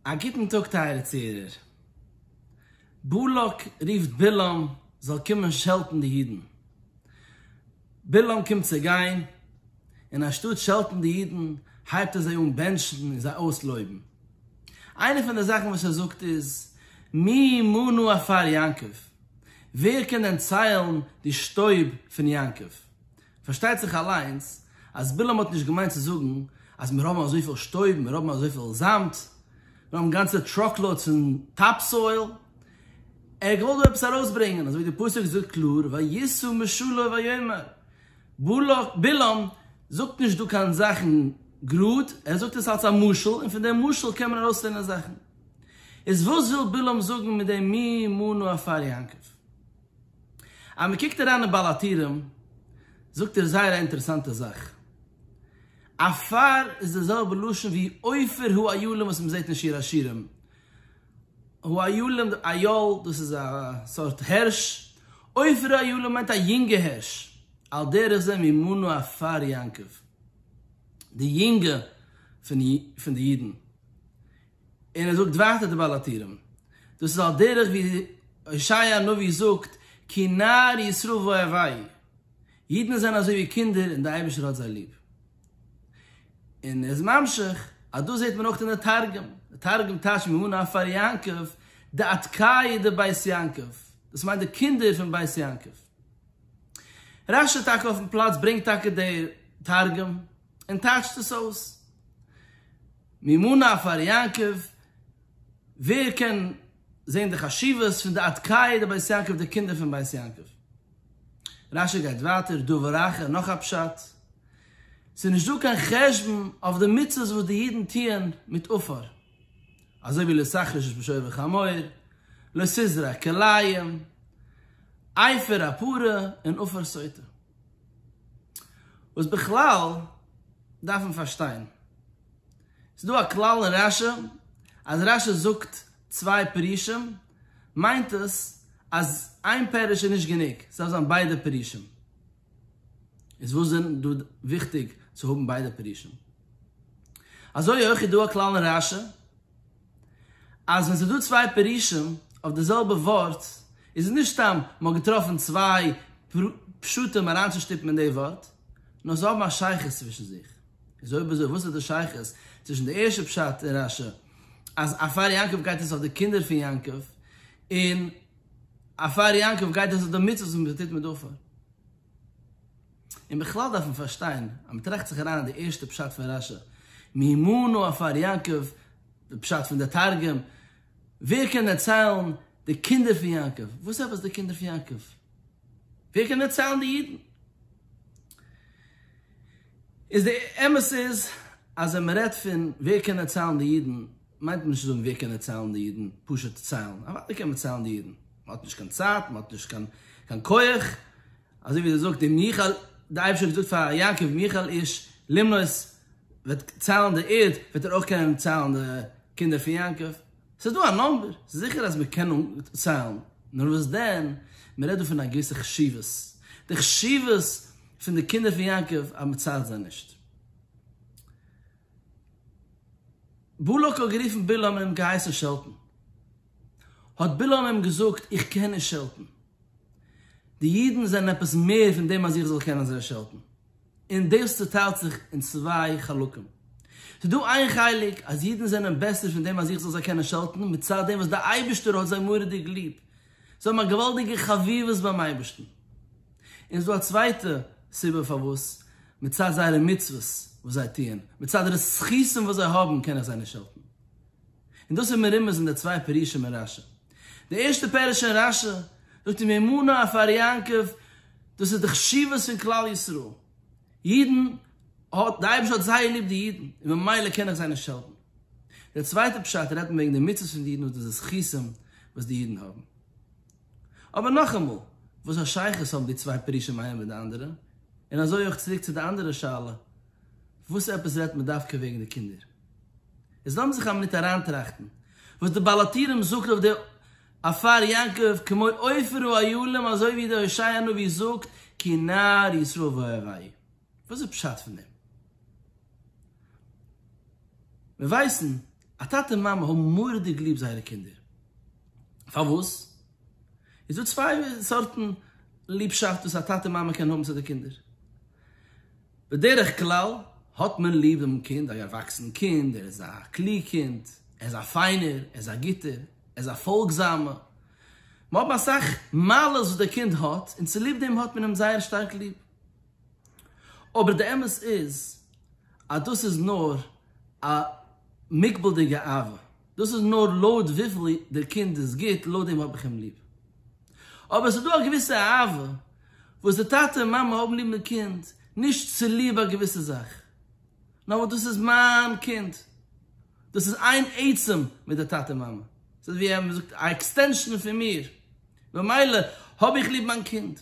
א גוטן טאג טייערע צוהערער. באלאק רופט בלעם זאל קומען שעלטן די אידן. בלעם קומט צו גיין, און אנשטאט שעלטן די אידן הייבט ער זיי אן בענטשן און זיי אויסלויבן. איינע פון די זאכן וואס ער זאגט איז, מי ימנו עפר יעקב? ווער קען דען ציילן די שטויב פון יעקב? פארשטייט זיך אליינס אז בלעם האט נישט געמיינט צו זאגן אז מיר האבן אזויפיל שטויב, מיר האבן אזויפיל זאמד, מיר האבן גאנצע טראקלאודס פון טאפ סאויל. ער האט געוואלט דא עפעס ארויסברענגען, אזויווי די פסוק זאגט קלאר, וישא משלו ויאמר. בלעם זאגט נישט דא קיין זאכן גראד, ער זאגט עס אלס א משל, און פון דעם משל קען מען ארויסלערנען זאכן. איז וואס וויל בלעם זאגן מיט דעם מי ימנו עפר יעקב? אז מען קוקט אריין אין בעל הטורים זאגט ער זייער א אינטערעסאנטע זאך, עפר איז די זעלבע לשון ווי עופר הוא איילון וואס מען זעט אין שיר השירים, הוא איילון די אייל דאס איז א סארט הערש, עופר הוא איילון מיינט א יונגע הערש, על דרך זה ממנו עפר יעקב, די יונגע פון די אידן, און ער זאגט ווייטער די בעל הטורים, דאס איז על דרך ווי הושעיה הנביא זאגט, כי נער ישראל ואוהביו, אידן זענען אזוי ווי קינדער און דער אייבערשטער האט זיי ליב. און ער איז ממשיך אז דאס זעט מען אויך אין די תרגום, די תרגום טייטשט מהנה פאר יעקב דאתקאי דבית יעקב, דאס מיינט די קינדער פון בית יעקב. רש י טאקע אויפן פלאץ ברענגט טאקע די תרגום. און טייטשט עס אויס. מימונה פאר יעקב, ווער קען זען די חשיבות פון די עד קאי דבית יעקב די קינדער פון בית יעקב. רש י גייט ווייטער דבר אחר נאך א פשט, ס'איז נישט דא קיין חשבון אויף די מצוות וואס די אידן טוען מיט עפר, אזוי ווי לא סחריש איש בשור וחמור, לא סזרע כלאים, עפר הפרה און עפר סוטה. וואס בכלל דארף מען פארשטיין? ס'איז דא א כלל אין רש י אז רש י זאגט צוויי פירושים מיינט עס אז איין פירוש איז נישט גענוג, ס'דארף זיין ביידע פירושים. איז וואס איז דא וויכטיג צו האבן ביידע פירושים? אזוי אויך איז דא א כלל אין רש י. אז ווען ס'איז דא צוויי פירושים אויף די זעלבע ווארט, איז עס נישט סתם מ'האט געטראפן צוויי פשטים אריינצושטופן אין די ווארט, נאר זיי האבן א שייכות צווישן זיך. איז אויב אזוי, וואס איז די שייכות צווישן די ערשטע פשט אין רש י, אז א פאר יעקב גייט עס אויף די קינדער פון יעקב, און א פאר יעקב גייט עס אויף די מצוות וואס מ'טוט מיט דארפער? און בכלל דארף מען פארשטיין אז מען טראכט זיך אריין אין די ערשטע פשט פון רשי, מימינו עפר יעקב, די פשט פון די תרגום, ווער קען דערציילן די קינדער פון יעקב? וואס עפעס די קינדער פון יעקב? ווער קען דערציילן די אידן? איז די אמת איז אז ווען מען רעדט פון ווער קען דערציילן די אידן, מיינט נישט צו זאגן ווער קען דערציילן די אידן, פשוט ציילן, אוודאי קען מען ציילן די אידן, מען האט נישט קיין צייט, מען האט נישט קיין קיין כח, אזוי ווי דער זאגט אין מיכאל, דער אייבערשטער האט געזאגט פאר יעקב מיכאל איש למנות וועט ציילן די ערד, וועט ער אויך קענען ציילן די קינדער פון יעקב, ס'איז דא א נומבער, ס'איז זיכער אז מען קען ציילן, נאר וואס דען, מען רעדט דא פון א געוויסע חשיבות, די חשיבות פון די קינדער פון יעקב אז מען ציילט זיי נישט. בלק האט גערופן בלעם און אים געהייסן שעלטן. האט בלעם אים געזאגט, איך קען נישט שעלטן. די אידן זענען עפעס מער פון דעם אז איך זאל קענען זיי שעלטן. און דאס צעטיילט זיך אין צוויי חלקים. ס'איז דא איין חלק אז אידן זענען בעסער פון דעם אז איך זאל זיי קענען שעלטן, מצד דעם וואס דער אייבערשטער האט זיי מורא'דיג ליב. זיי האבן א געוואלדיגע חביבות ביים אייבערשטן. און ס'איז דא א צווייטע סיבה פארוואס, מצד זייערע מצוות וואס זיי טוען, מצד די זכותים וואס זיי האבן קען איך זיי נישט העלפן. און דאס איז מרומז אין די צוויי פירושים אין רשי. די ערשטע פירוש אין רשי, זאגט און אמונה אויף אר יעקב, דאס איז די חשיבות פון כלל ישראל. אידן האט, די אייבערשטער האט זייער ליב די אידן, און ממילא קען איך זיי נישט העלפן. דער צווייטער פשט רעדט מען וועגן די מצוות פון די אידן וואס דאס איז זכותם וואס די אידן האבן. אבער נאכאמאל, וואס א שייכות האבן די צוויי פירושים איינער מיט די אנדערע? און אזוי אויך צוריק צו די אנדערע שאלה, וואס עפעס רעדט מען דווקא וועגן די קינדער? איז לאמיר זיך א מינוט אריינטראכטן וואס די בעל הטורים זאגט אויף די עפר יעקב כמו עופר הוא היה להם אזוי ווי די הושעיה נביא זאגט כי נער ישראל ואוהב א י. וואס איז פשט פון דעם? מיר ווייסן אז טאטע און מאמע האבן מורא'דיג ליב זייערע קינדער. פארוואס? איז דא צוויי סארטן ליבשאפט וואס א טאטע און מאמע קענען האבן צו די קינדער. בדרך כלל האט מען ליב דעם קינד, א ערוואקסן קינד, ער איז א קלוג קינד, ער איז א פיינער, ער איז א גוטער, ער איז א פאלגזאמער. מ'האט אסאך מעלות וואס דער קינד האט, און צוליב דעם האט מען אים זייער שטארק ליב. אבער די אמת איז אז דאס איז נאר א מוגבל'דיגע אהבה, דאס איז נאר לויט וויפיל דער קינד איז גוט, לויט דעם האב איך אים ליב. אבער עס איז דא א געוויסע אהבה וואס די טאטע און מאמע האבן ליב דעם קינד נישט צוליב א געוויסע זאך, נאר ווייל דאס איז מיין קינד, דאס איז איין עצם מיט די טאטע מאמע, ס'איז ווי א, מען זאגט, א עקסטענשאן פון מיר, במילא האב איך ליב מיין קינד.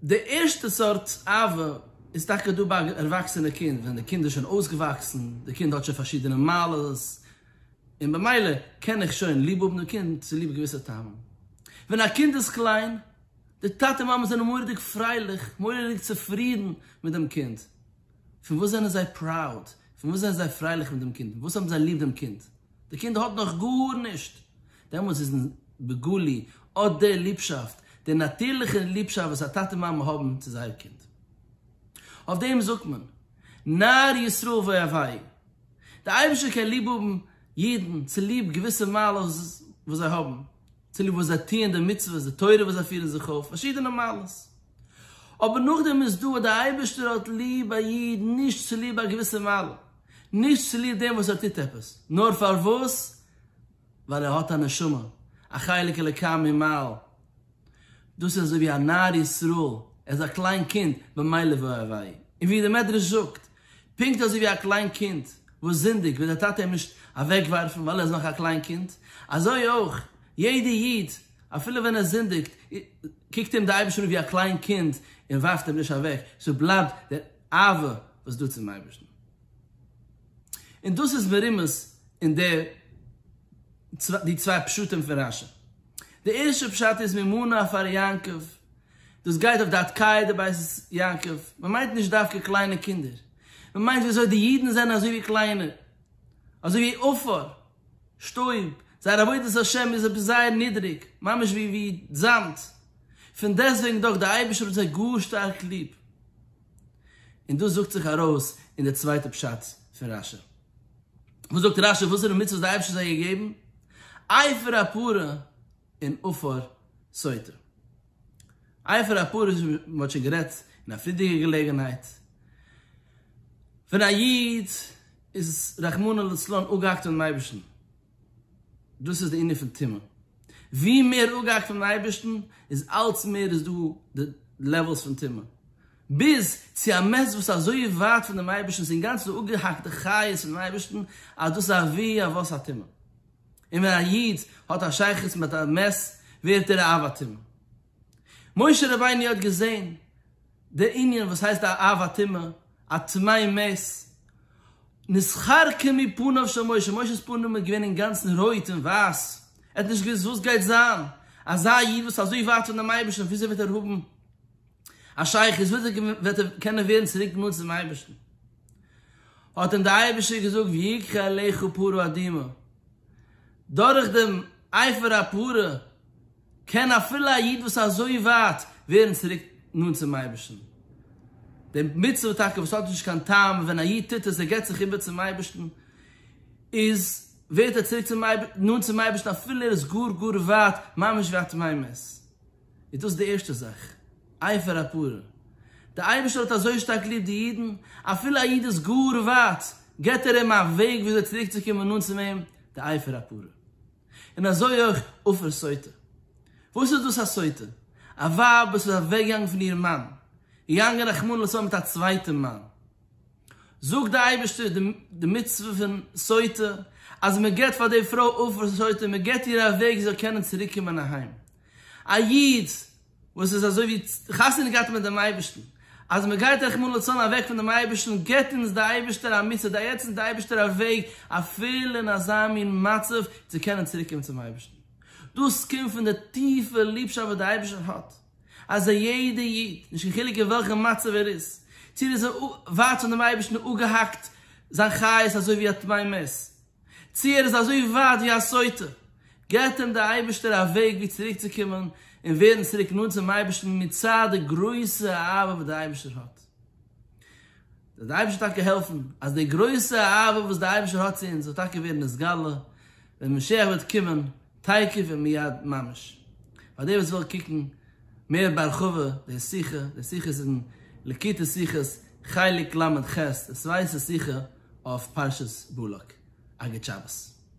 די ערשטע סארט אהבה איז טאקע דא ביי א ערוואקסענע קינד, ווען די קינד איז שוין אויסגעוואקסן, די קינד האט שוין פארשידענע מעלות, און במילא קען איך שוין ליב האבן דעם קינד צוליב געוויסע טעמים. ווען א קינד איז קליין, די טאטע און מאמע זענען מורא'דיג פרייליך, מורא'דיג צופרידן מיט דעם קינד. פון וואס זענען זיי פראוד? פון וואס זענען זיי פרייליך מיט דעם קינד? פון וואס האבן זיי ליב דעם קינד? די קינד האט נאך גארנישט, דעמאלס איז אין בגולי אט די ליבשאפט, די נאטירליכע ליבשאפט וואס א טאטע מאמע האבן צו זייער קינד. אויף דעם זאגט מען, נער ישראל ואוהביו, די אייבערשטער קען ליב האבן אידן צוליב געוויסע מעלות וואס זיי האבן, צוליב וואס זיי טוען די מצוות, די תורה וואס זיי פירן זיך אויף, פארשידענע מעלות. אבער נאכדעם איז דא אז דער אייבערשטער האט ליב א איד נישט צוליב א געוויסע מעלה, נישט צוליב דעם וואס ער טוט עפעס, נאר פארוואס? ווייל ער האט א נשמה, א חלק אלוקי ממעל. דאס איז אזוי ווי א נער ישראל, ער איז א קליין קינד, ממילא וואו ער וויי. און ווי דער מדרש זאגט, פונקט אזוי ווי א קליין קינד וואס זינדיגט וועט דער טאטע אים נישט אוועקווארפן ווייל ער איז נאך א קליין קינד, אזוי אויך יעדע איד אפילו ווען ער זינדיגט קוקט אים דער אייבערשטער אן ווי א קליין קינד און ווארפט אים נישט אוועק, ס'איז בלייבט דער אהבה וואס דא צום אייבערשטן. און דאס איז מרומז אין די צוויי פשטים פון רשי. די ערשטע פשט איז ממנה פאר יעקב דאס גייט אויף די התקיה דבית יעקב, מען מיינט נישט דווקא קליינע קינדער, מען מיינט ווי אזוי די אידן זענען אזוי ווי קליינע, אזוי ווי עפר, שטויב, זייער עבודת השם איז עפעס זייער נידריג, ממש ווי ווי זאמד, פון דעסוועגן דאך די אייבערשטער האט זיי גאר שטארק ליב, און דאס זאגט זיך ארויס אין די צווייטע פשט פון רשי. וואס זאגט רשי וואסערע מצוות האט די אייבערשטער זיי געגעבן? עפר הפרה. און אפאר סותר. איה פאר א פרוש ווי מען האט שוין גערעדט אין א פריערדיגע געלעגנהייט, ווען א איד איז רחמנא לצלן אפגעהאקט פונעם אייבערשטן, דאס איז די ענין פון טומאה, ווי מער אפגעהאקט פונעם אייבערשטן איז אלץ מער איז דא די לעוועלס פון טומאה, ביז צו א מעש וואס אזוי ווייט פון דעם אייבערשטן, ס'איז אינגאנצן די אפגעהאקטע חיות פונעם אייבערשטן, אז דאס איז אבי אבות הטומאה. און ווען א איד האט א שייכות מיט א מת ווערט ער א אב הטומאה. משה רבינו האט געזען די ענין וואס הייסט א אב הטומאה, א טמאי מת, נשחרקה מפניו של משה, משה'ס פנים איז געווען אינגאנצן רויט און ווייס, ער האט נישט געוואוסט וואס גייט זיין, אזא איד וואס איז אזוי ווייט פון דעם אייבערשטן וויאזוי וועט ער האבן א שייך איז וויאזוי וועט ער קענען ווערן צוריק נאנט צום אייבערשטן? האט אים דער אייבערשטער געזאגט ויקחה אליך פרה אדומה, דורך דעם עפר הפרה קען אפילו א איד וואס איז אזוי ווייט ווערן צוריק נאנט צום אייבערשטן, די מצוה טאקע וואס האט נישט קיין טעם און ווען א איד טוט עס, ער געבט זיך איבער צום אייבערשטן, איז ווערט ער צוריק נאנט צום אייבערשטן אפילו ער איז גאר גאר ווייט ממש ווי א תמימות. איז דאס די ערשטע זאך, אייפער הפרה. דער אייבערשטער האט אזוי שטארק ליב די אידן, אפילו א איד איז גאר ווייט, געבט ער אים א וועג וויאזוי צוריקצוקומען נאנט צו אים, די אייפער הפרה. און אזוי אויך עופר סוטה. וואס איז דאס א סוטה? א ווייב וואס איז אוועקגעגאנגען פון איר מאן, געגאנגען רחמנא לצלן מיט א צווייטן מאן. זאגט דער אייבערשטער די מצוה פון סוטה, אז מען געבט פאר די פרוי עופר סוטה, מען געבט איר א וועג זי זאל קענען צוריקקומען אהיים. א איד וואס איז אזוי ווי חתונה געהאט מיט דעם אייבערשטן, אז מען גייט רחמנא לצלן אוועק פון דעם אייבערשטן, געבט אונז דער אייבערשטער א מצוה, דייעט אונז דער אייבערשטער א וועג אפילו אין אזא מין מצב צו קענען צוריק קומען צום אייבערשטן. דאס קומט פון די טיפע ליבשאפט וואס דער אייבערשטער האט אז א יעדער איד, נישט קיין חילוק אין וועלכע מצב ער איז, צי ער איז ווייט פון דעם אייבערשטן, אפגעהאקט זיין חיות אזוי ווי א טמא מת, צי ער איז אזוי ווייט ווי א סוטה, געבט אים דער אייבערשטער א וועג ווי צוריק צו קומען און ווערן צוריק נאנט צום אייבערשטן מצד די גרויסע אהבה וואס דער אייבערשטער האט. זאל דער אייבערשטער טאקע העלפן אז די גרויסע אהבה וואס דער אייבערשטער האט צו אונז זאל טאקע ווערן נתגלה ווען משיח וועט קומען תיכף ומיד ממש. פאר די וואס ווילן קוקן מער בהרחבה די שיחה, די שיחה איז אין לקוטי שיחות חלק ל ח, דאס ווייסט עס זיכער אויף פרשת בלק, א גוט שבת.